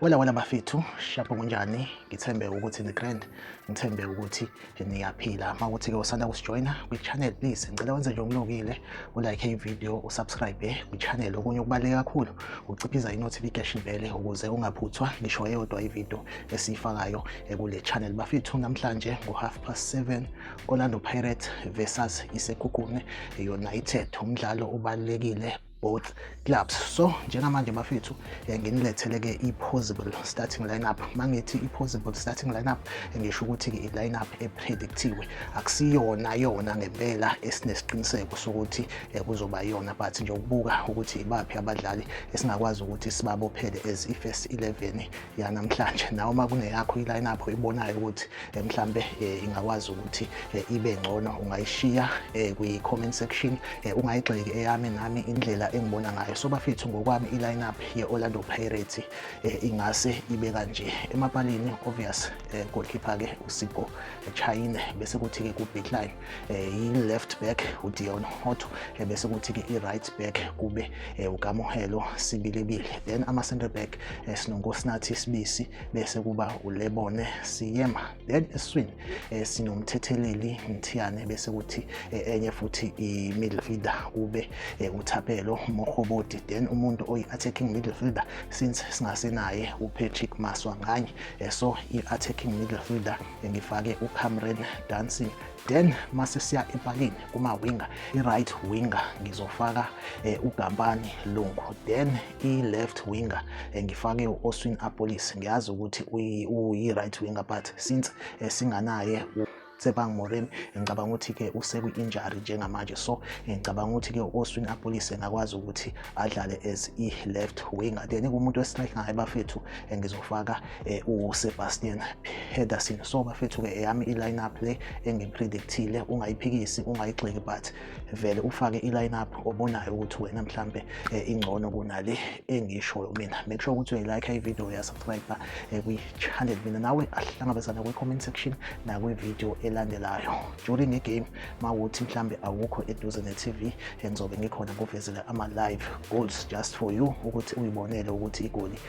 wela wena bafethu shapho kunjani ngithembe ukuthi ni-grand ngithembe ukuthi niyaphila uma ukuthi-ke usanda kusijoyina kwi-channel please ngicela wenze nje umlokile ulike ividiyo usubscribe kwi-channel okunye okubaluleke kakhulu uciphiza i-notification bele ukuze ungaphuthwa ngisho eyodwa ividiyo esiyifakayo kule channel bafethu namhlanje ngo half past 7 Orlando Pirates versus iSekhukhune United umdlalo ubalekile both clubs so njengamanje bafethu eh, nginilethele-ke i-possible starting lineup mangithi i-possible starting lineup eh, ngisho ukuthi-ke i-lineup epredictiwe akusiyona yona ngempela esinesiqiniseko sokuthi eh, kuzoba yona but nje ukubuka ukuthi ibaphi abadlali esingakwazi ukuthi sibabophele as i-first 11 yanamhlanje nawe uma kungeyakho i-lineup oyibonayo ukuthi eh, mhlambe eh, ingakwazi ukuthi eh, ibe ngcono ungayishiya kwi-comment section ungayigxeki eyami nami indlela engibona ngayo so bafethu ngokwami i-lineup ye-orlando pirates ingase ibe kanje emapalini obvious goalkeeper-ke usipo chayine bese kuthi-ke ku-bitline eh, i-left back uDeon Hotto eh, bese kuthi ke i-right back kube eh, uKamohelo Sibilebile then ama center back eh, sinoNkosinathi Sibisi bese kuba uLebone Siyema then eswini eh, sinomthetheleli Mthiyane bese kuthi eh, enye futhi i-midfielder kube eh, uThapelo Mohoboti then umuntu oyi-attacking midfielder since singasenaye uPatrick Maswa nganye eh, so i-attacking midfielder ngifake uCamren Dancing then mase siya empakini kuma winger i-right winger ngizofaka eh, uGampani Lungu then i-left winger eh, ngifake u-Oswin Apolis ngiyazi ukuthi uyi-right winger but since eh, singanaye Tsepang Moremi ngicabanga ukuthi ke usekwi-injury njengamanje so ngicabanga ukuthi ke u-Oswin Apolise ngakwazi ukuthi adlale as i-left winger then kumuntu we-strike ngaye bafethu ngizofaka eh, uSebastian Pedersen so bafethu-ke eyami i-lineup le engipredictile ungayiphikisi ungayigxeki but vele ufake i-lineup obonayo ukuthi wena mhlampe eh, ingcono kunale engishoyo mina make sure ukuthi uyayilike ivideo uyasubscribe eh, kwi-channel mina nawe ahlangabezana kwi-comment section nakwivideo elandelayo during igame ma ukuthi mhlambe awukho eduze ne-tv engizobe ngikhona kuvezele ama-live goals just for you ukuthi uyibonele ukuthi igoli